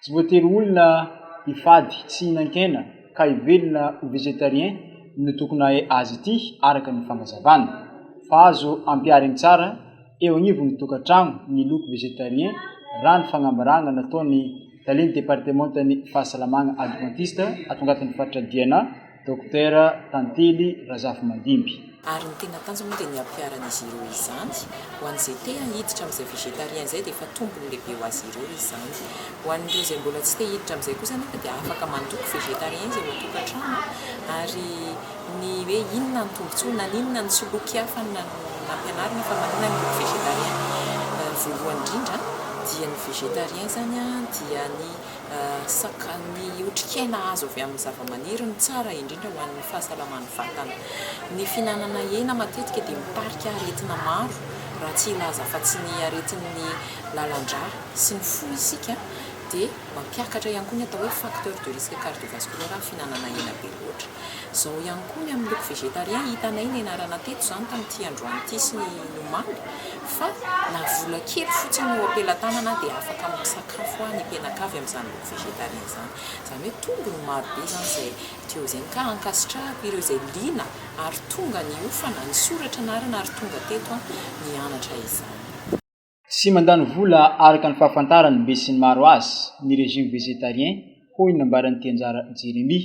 Tsy voatery olona hifady tsy hihinan-kena ka hivelona ho vegetarien no tokony hahay azy ity araka ny fanazavana, fa azo ampihariny tsara eo agnivon'ny tokantrano ny loko vegetarien raha ny fagnambaragna nataon'ny Talen'ny Departemantan'ny Fahasalamagna Advantista ato agnatin'ny faritra Diana, Dokotera Tantely Razafimandimby. Ary ny tena tanjony moa dia ny hampiharan'izy ireo izany. Ho an'izay te hiditra amin'izay végétarien izay dia efa tombony lehibe ho azy ireo izany. Ho an'ireo izay mbola tsy te hiditra amin'izay kosa anefa dia afaka mandoko végétarien izy ao an-tokantrano ary ny hoe inona ny tombotsoa na inona ny soloky hafa nampianarina fa manoina ny loko végétarien voalohany indrindra dia ny végétarien izany dia ny Ny otrikaina azo avy amin'ny zavamaniry no tsara indrindra ho an'ny fahasalaman'ny vatana. Ny fihinanana hena matetika dia mitarika aretina maro raha tsy hilaza fa tsy ny aretin'ny lalandrà sy ny fo isika dia mampiakatra ihany koa ny atao hoe facteur de risque cardiovasculaire ny fihinanana hena be loatra. Izao ihany koa ny amin'ny loko végétarien hitanay nianarana teto izany tamin'ity androany ity sy ny omaly fa na vola kely fotsiny eo am-pelatanana dia afaka misakafo. sakafo hoa ny mpianaka avy amin'izany loko végétarien izany. Izany hoe tombony maro be izany izay teo izay ka ankasitrahako ireo izay liana ary tonga niofana, nisoratra anarana ary tonga teto nianatra izany. Tsy mandany vola araka ny fahafantaran'ny besinimaro azy ny régime végétarien, hoy ny nambaran'ity Anjara Jeremie.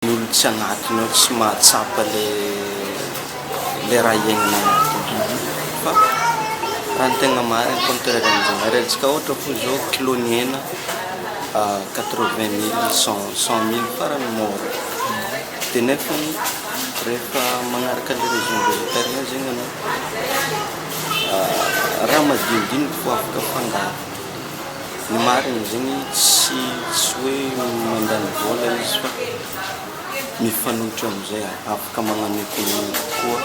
Ny olona tsy anatiny ao tsy mahatsapa ilay raha iainana anatiny. Fa raha ny tegna marigny koa ny toeran-dRain'i Zanahary, alantsika ohatra fo zao kilôn'ny hena quatre vingt mille, cent cent mille farany môra. De nefany rehefa magnaraka le régime végétarien zegny anao, raha madinidiniky vao afaka afangaro. ny marina zegny tsy tsy hoe mandany vola izy fa mifanohitra amizay afaka magnano economie kokoa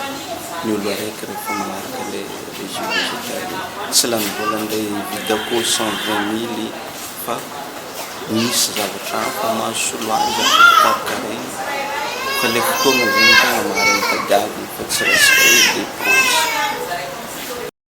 ny olo araiky rehefa magnaraka le régime végétarien tsy lany vola ndre hividy akoho cent vingt mily fa misy zavatra hafa maha solo azy afaka karakaraigny fa le fotoagna zegny tegna marigny tadiavigny fa tsy resaka hoe depense.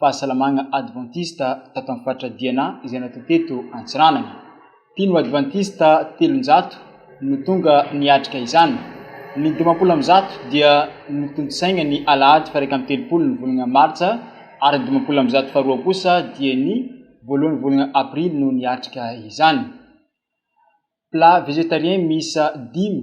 fahasalamagna advantista tato amin'ny faritra Diana izay natao teto Antsiranana. Mpino advantista telonjato no tonga niatrika izany. Ny dimampolo amby zato dia notontosaigna ny alahady faraika amby telopolo ny volagna martsa ary ny dimampolo amby zato faharoa kosa dia ny voalohan'ny volagna aprily no niatrika izany. Plat végétarien miisa dimy.